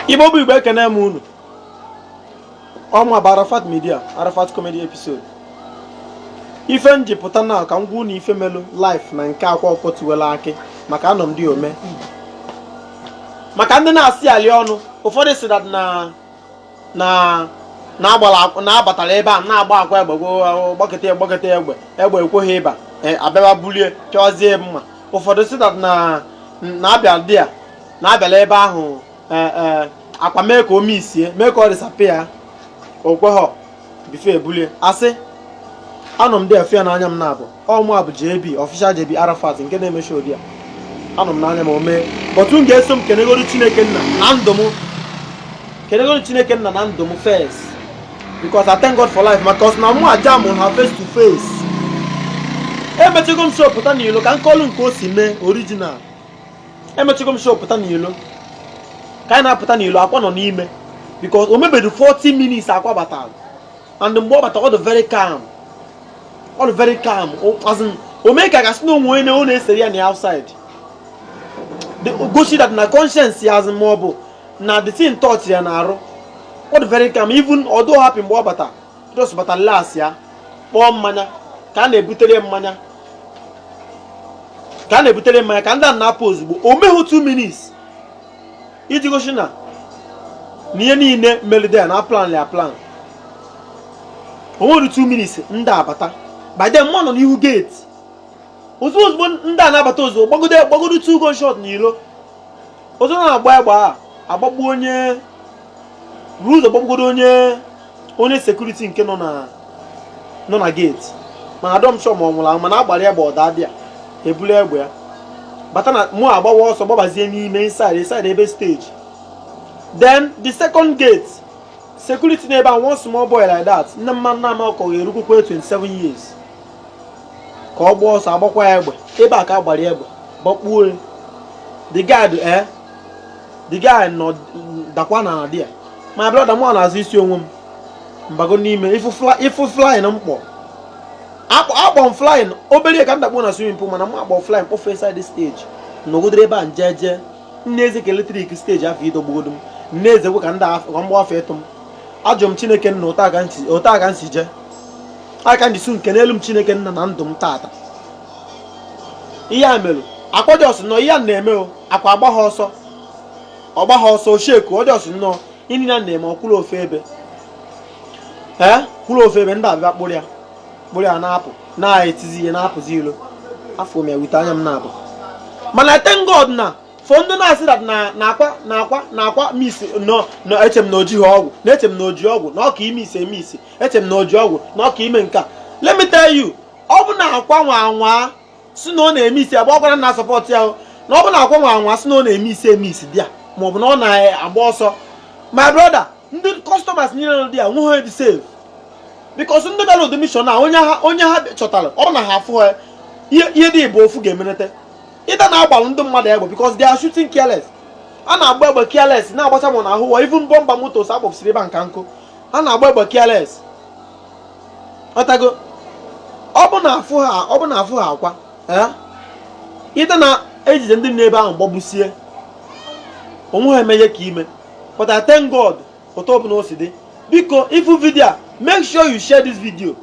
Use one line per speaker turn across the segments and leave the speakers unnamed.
igbo bụ igbo ekene m unu ọ mụ bụ arafat media arafat comedy episode ife m ji pụta na ka m gwa unu ife melu live na nke akwa ọkụkọ tiwela akị maka anọ m dia o mee maka ndị na-asị ali ọnụ ụfọdụ sị that na na-agbara akwụ- na-abatara ebe a na-agba akwa egbe gwo- gbakọta ya gbakọta ya egbe egbe ekweghị ịba e, abịaba bulie chọzie mma ụfọdụ sị that na-abịa dia na-abịala ebe ahụ e, e, akwa mee ka o misie mee ka ọ disappear o kweghọ before e bulie asị anọ m dia efe ya n'anya m na-abụ ọ mụ bụ JB official JB Arafat nke na-eme show dia anọ m n'anya m o mee but m ga-eso m kenegoro Chineke nna na ndụ m kenegoro Chineke nna na ndụ m first because I thank God for life because na mụ aja m ha face to face emechego m show pụta n'ilo ka m kọlụ nke o si mee original emechigo m show pụta n'ilo ka anyị na-apụta n'ilo akwa nọ n'ime because o mebedu 40 minutes akwa batara and mgbe ọ bata ọ dị very calm ọ dị very calm as in o mee ka a ga-asị na onwe onye na- ọ na-echere ya na outside the gosi that na conscience ya as in ma ọ bụ na the thing touch ya na arụ ọ dị very calm even ọ dịrọ happy mgbe ọ bata just bata las ya kpọọ mmanya ka a na-ebutere mmanya ka a na-ebutere mmanya ka ndị a na-apụ ozugbo o meghị 2 minutes iji gosi na na ihe niile melu dia na a planlụ ya plan o medu 2 minutes ndị abata by then mụ nọ n'ihu gate ozugbo ozugbo ndị a na-abata ozugbo gbagodo gbagodo 2 gunshot n'ilo ozo na-agba egbe a agbagbu onye buru ụzọ gbagbugodo onye onye security nke nọ na nọ na gate mana adọ m sure ma ọ nwụrụ anwụ mana a gbara ya egbe ọ daa dia e bulu egbe ya bata na mụ agbawa ọsọ gbabazie n'ime inside inside ebe stage then the second gate security n'ebe a one small boy like that nne mma nna m ọkọ ga-erukwukwa 27 years ka ọ gbaa ọsọ agbakwa ya egbe ebe a ka a gbara ya egbe gbakpuo the guy adaa the guy nọ dakwa na dia my brother m na-azọ isi onwe m bago n'ime ị fụ flying m kpọ akpọ m flying obere ka m dakpo na swimming pool mana m akpọ flying kpọfee inside stage nọgidere ebe a m je jee m na-eze ka electric stage afụ ịdọgbugodo m m na-ezekwa ka ndị ka m gbafe ịtụ m ajụ m chineke nna otu aka m si jee aka njisu m kenelu m chineke nna na ndụ m tata ihe a mere akpọjọs nọ ihe a na-eme o Akwa agbaha ọsọ ọ gbaha ọsọ osheku ọ just nọọ ihe nine na-eme ọ kwụrụ ofu ebe ee kwụrụ ofu ebe ndị a bịa kpụrụ ya kpụrụ ya na-apụ na-etizi ihe na-apụzi ilo afụ m ya with anya m naabọ mana thank God na for ndị na-asị that na Akwa na Akwa na Akwa miss nọ na eche m na o ji ha ọgwụ na eche m na o ji ọgwụ na ọ ka ime isi eme isi eche m na o ji ọgwụ na ọ ka ime nke a let me tell you ọ bụ na Akwa nwaa anwa sị na ọ na-eme isi agba ọkwara na spot ya na ọ bụ na Akwa nwaa anwa sị na ọ na-eme isi eme isi bịa ma ọ bụ na ọ na-agba ọsọ my brother ndị customers niile nọ dị ya nwe ha dị safe because ndị bịara ụdị mission a onye ha chọtara ọ bụ na ha afụha ihe dị abụọ ofu ga-emerịta either na agbalụ ndị mmadụ egbe because they are shooting careless a na-agba egbe careless na-agbacha mụ na ahụ wa even bọmba motors akpọpụsịrị ebe nka nkụ a na-agba egbe careless ọtago ọ bụ na afụha ọ bụ na afụha Akwa either na ejide ndị nọ ebe ahụ gbagbusie onwe ha emee ihe ka ime but I thank God otu ọ bụla o si dị biko ị fụ video a make sure you share this video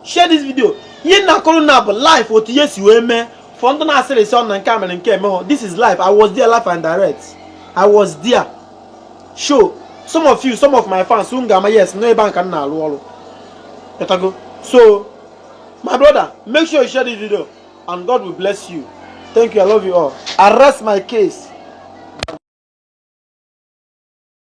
share this video ihe na-akọrọ ụnụ bụ live otu ihe si wee mee for ndị na-asịrị sị ọ na nke a mere nke emeghọ this is live I was there live and direct I was there show some of you some of my fans unu ga-ama yes nọ ebe ahụ ka m na-alụ ọrụ ịtago so my brother make sure you share this video and God will bless you thank you I love you all arrest my case